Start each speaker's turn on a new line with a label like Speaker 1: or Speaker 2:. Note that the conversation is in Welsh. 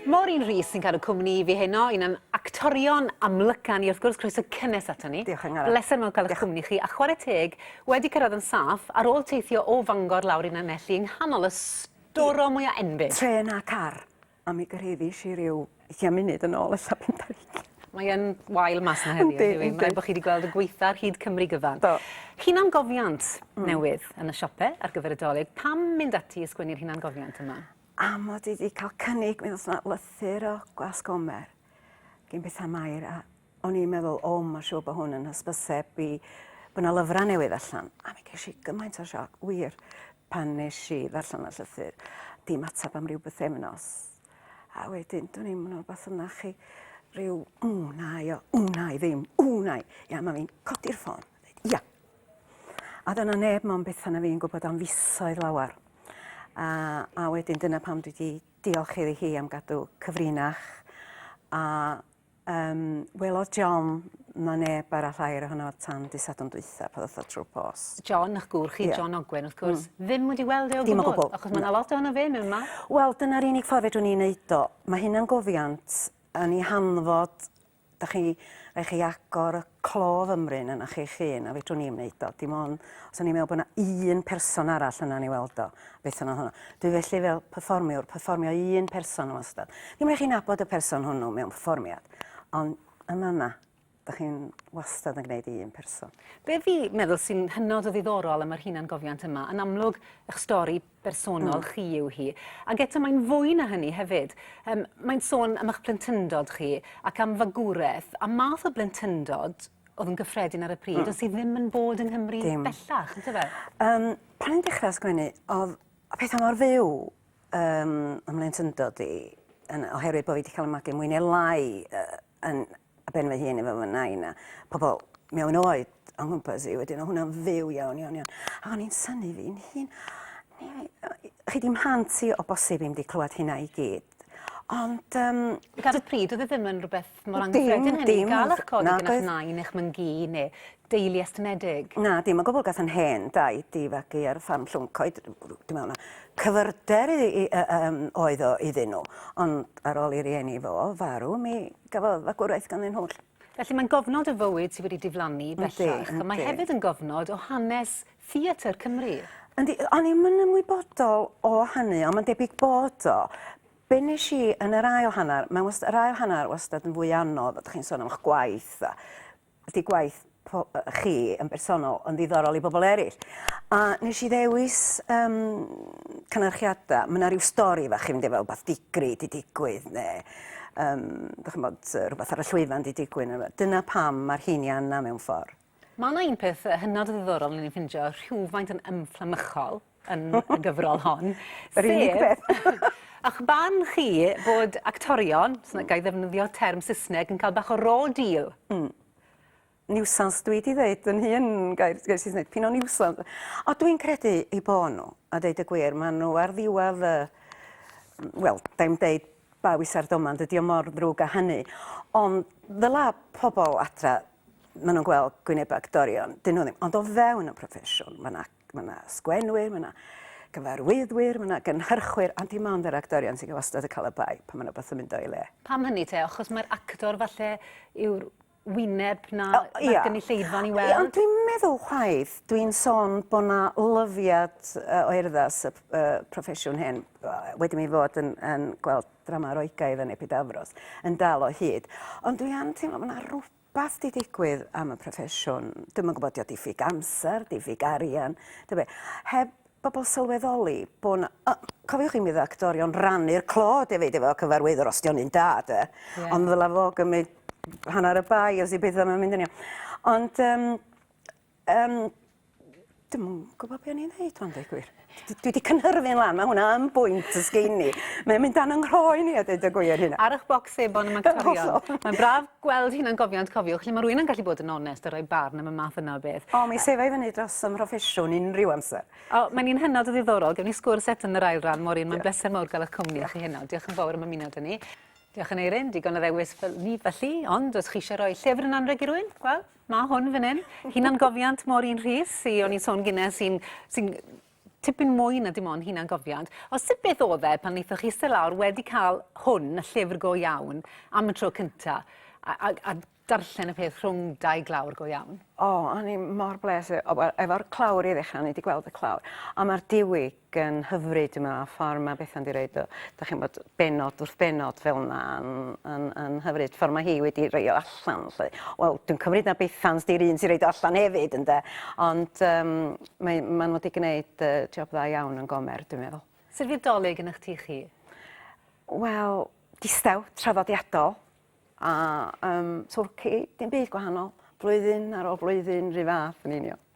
Speaker 1: Maureen Rees sy'n cadw cwmni i fi heno, un o'n actorion amlyca ni wrth gwrs, croeso cynnes ato ni. Diolch Angharad. Bleser mawr cael eich
Speaker 2: cwmni chi,
Speaker 1: a chwarae teg, wedi cyrraedd yn saff, ar ôl teithio o Fangor lawr i Lanelli yng nghanol y storom mwya enbyd. Trên a car,
Speaker 2: a mi gyrhaeddis i ryw ugian munud yn ôl ella pump ar hugain. Mae yn
Speaker 1: wael mas 'na heddiw, yndyw 'i? Yndi. Mae rhaid bod chi wedi gweld y gwaetha' ar hyd Cymru gyfan. Do. Hunangofiant newydd yn y siope ar gyfer y Dolig. Pam mynd ati i sgwennu'r hunangofiant yma? A mod i wedi
Speaker 2: cael cynnig, mi ddos na lythyr o Glasgomer gyn bethau Mair, a o'n i'n meddwl, o, mae'n siŵr bod hwn yn hysbyseb i bod yna lyfrau newydd allan. A mi ges i gymaint o sioc, wir, pan nes i ddarllen y llythyr. Dim ateb am rhyw bythefnos. A wedyn, dwi'n i'n mwyn beth yna chi, rhyw, ww, na, io, ww, na, i ddim, ww, na, i. Ia, mae fi'n codi'r ffôn. Ia, A doedd 'na neb mond Bethan a fi'n gwybod am fisoedd lawer. A, a wedyn dyna pam dwi wedi diolch iddi hi am gadw cyfrinach. A um, welodd John na neb arall air ohono tan dy sadwn dwytha pan ddoth o trwy pos. John, ych gŵr chi, yeah.
Speaker 1: John Ogwen, wrth gwrs, mm. ddim wedi weld e o gwbl. gwbl. Achos mae yna lot
Speaker 2: ohono fe mewn
Speaker 1: ma. Wel, dyna'r unig
Speaker 2: ffordd fedrwn ni'n neud o. Mae hynna'n gofiant yn ei hanfod Dach chi, rai' chi agor y clo fymryn ynoch chi'ch hun, a fedrwn i'm wneud o. Dim ond os o'n i'n meddwl bod 'na un person arall yna'n ei weld o, beth yna hwnna. Dwi felly fel perfformiwr, perfformio i un person wastad. Ddim rai' chi nabod y person hwnnw mewn perfformiad, ond yn fan'na, dach chi'n wastad yn gwneud i un person. Be fi meddwl
Speaker 1: sy'n hynod o ddiddorol am yr hunangofiant yma, yn amlwg, 'ych stori, bersonol mm. chi yw hi. Ac eto mae'n fwy na hynny hefyd. Um, mae'n sôn am eich blentyndod chi ac am fagwraeth a math o blentyndod oedd yn gyffredin ar y pryd, mm. ond sydd ddim yn bod yng Nghymru Dim. bellach, yn tyfe? Um, pan i'n dechrau
Speaker 2: sgwennu, oedd pethau mor fyw um, ymlaen tyndod i, yn, oherwydd bod fi wedi cael y magu mwy neu lai uh, yn, ar ben fy hun efo fy nain a pobl mewn oed o'n nghwmpas i wedyn, o hwnna'n fyw iawn, iawn, iawn. A o'n i'n syni fi'n hun, chi di mhlant i o bosib i'm di clywed hynna i gyd. Ond... Um, Gan y
Speaker 1: pryd, oedd e ddim yn rhywbeth mor anghyffredin hynny, gael eich codi gyda nain eich myngu, neu deulu estynedig? Na, dim o gwbl. Gath 'yn
Speaker 2: hen daid 'i fagu ar ffarm Llwyncoed. Dwi me'wl na cyfyrder i i yy yym oedd o iddyn nhw. Ond ar ôl i rieni fo farw mi gafodd fagwraeth ganddyn nhw 'lly. Felly mae'n gofnod
Speaker 1: o fywyd sy wedi diflannu bellach. Yndi, yndi. Mae hefyd yn gofnod o hanes theatr Cymru. Yndi, o'n i'm yn
Speaker 2: ymwybodol o hynny ond ma'n debyg bod o. Be' nesh i yn yr ail hannar, mae wast- yr ail hannar wastad yn fwy anodd, a 'dych chi'n sôn am 'ych gwaith a 'di gwaith chi yn bersonol yn ddiddorol i bobl eraill. A nes i ddewis um, cynyrchiadau, mae yna rhyw stori fach chi'n mynd efo rhywbeth digri di digwydd neu um, chymod, rhywbeth ar y llwyfan di digwydd. Dyna pam mae'r hyn i anna mewn ffordd. Mae yna un peth
Speaker 1: hynod ddiddorol ni'n ffindio rhywfaint yn ymfflamychol. yn y gyfrol hon. Yr unig beth.
Speaker 2: Ych barn
Speaker 1: chi bod actorion, os na ga i ddefnyddio term Saesneg, yn cael bach o raw deal? Mm.
Speaker 2: Niwsans, dwi wedi dweud yn hun gair, gair Saesneg, pyn o niwsans. O, dwi'n credu i bo nhw, a dweud y gwir, maen nhw ar ddiwedd, uh, wel, da i'n dweud ba wisa'r domand, ydy o mor ddrwg a hynny. Ond ddyla pobl adra maen nhw'n gweld gwyneb actorion, dyn nhw ddim. Ond o fewn y proffesiwn, mae yna mae yna sgwenwyr, mae yna gyfarwyddwyr, mae yna gynhyrchwyr, ond dim ond yr actorion sy'n wastad yn cael y bai pan mae yna beth yn mynd o'i le. Pam hynny te? Achos
Speaker 1: mae'r actor falle yw'r wyneb na oh, yeah. gynulleidfa'n i weld? Ond dwi'n meddwl
Speaker 2: chwaith, dwi'n sôn bod yna lyfiad uh, o erddas y uh, proffesiwn hyn, wedi mi fod yn, yn gweld drama roigaidd yn Epidafros, yn dal o hyd. Ond dwi am teimlo bod yna rhywbeth Beth 'di digwydd am y proffesiwn? Dwi'm yn gwybod, 'di o diffyg amser, diffyg arian, ta be'? Heb bobl sylweddoli bo' 'na... O, cofiwch chi mi o'dd actorion rannu'r clod efyd efo cyfarwyddwr, os 'di o'n un da 'de? Ie. Ond ddyla fo gymryd hannar y bai os 'di petha 'im yn mynd yn iawn. Ond yym Yym dwi'm yn gwbo be' o'n i'n ddeud ŵan deu gwir. D- dwi 'di cynhyrfu'n lan ma' hwnna yn bwynt os gei ni. Mae'n mynd dan 'yn nghroen i a deud y gwir hynna. Ar 'ych bocs sebon am
Speaker 1: actorion. Mae'n braf gweld hunangofiant cofiwch lle ma' rywun yn gallu bod yn onest a rhoi barn am y math yna o beth. O mi sefa i fyny dros
Speaker 2: 'y mhroffesiwn unrhyw amser. O mae'n un hynod o
Speaker 1: ddiddorol gewn ni sgwrs eto yn yr ail ran Maureen mae'n bleser mawr ga'l 'ych cwmni chi heno diolch yn fowr am ymuno 'da ni. Diolch Aneurin, digon o ddewis fel ni felly, ond os chi eisiau rhoi llyfr yn anrheg i rywun, wel, Ma' hwn fan 'yn. Hunangofiant Maureen Rhys sy o'n i'n sôn gynne sy'n sy'n tipyn mwy na dim ond hunangofiant. O sut beth o'dd e pan neithoch chi iste lawr wedi cael hwn, y llyfr go iawn, am y tro cynta, a, a, a darllen y peth rhwng dau glawr go iawn? O, o'n i mor
Speaker 2: bles e- o wel efo'r clawr i ddechra o'n i 'di gweld y clawr. A ma'r diwy yn hyfryd yma, a ffordd mae Bethan wedi rhoi o, da chi'n bod, benod wrth benod fel yna, yn, yn, yn hyfryd. Ffordd mae hi wedi rhoi o allan, lle. Wel, dwi'n cymryd na Bethan ydy'r un sy'n rhoi o allan hefyd, ynde. Ond um, mae, maen nhw wedi gwneud uh, job dda iawn yn gomer, dwi'n meddwl. Sut fydd dolyg yn eich
Speaker 1: tu chi? Wel,
Speaker 2: distaw, traddodiadol, a um, twrci, dim byd gwahanol. Blwyddyn ar ôl blwyddyn, rhy fath yn union.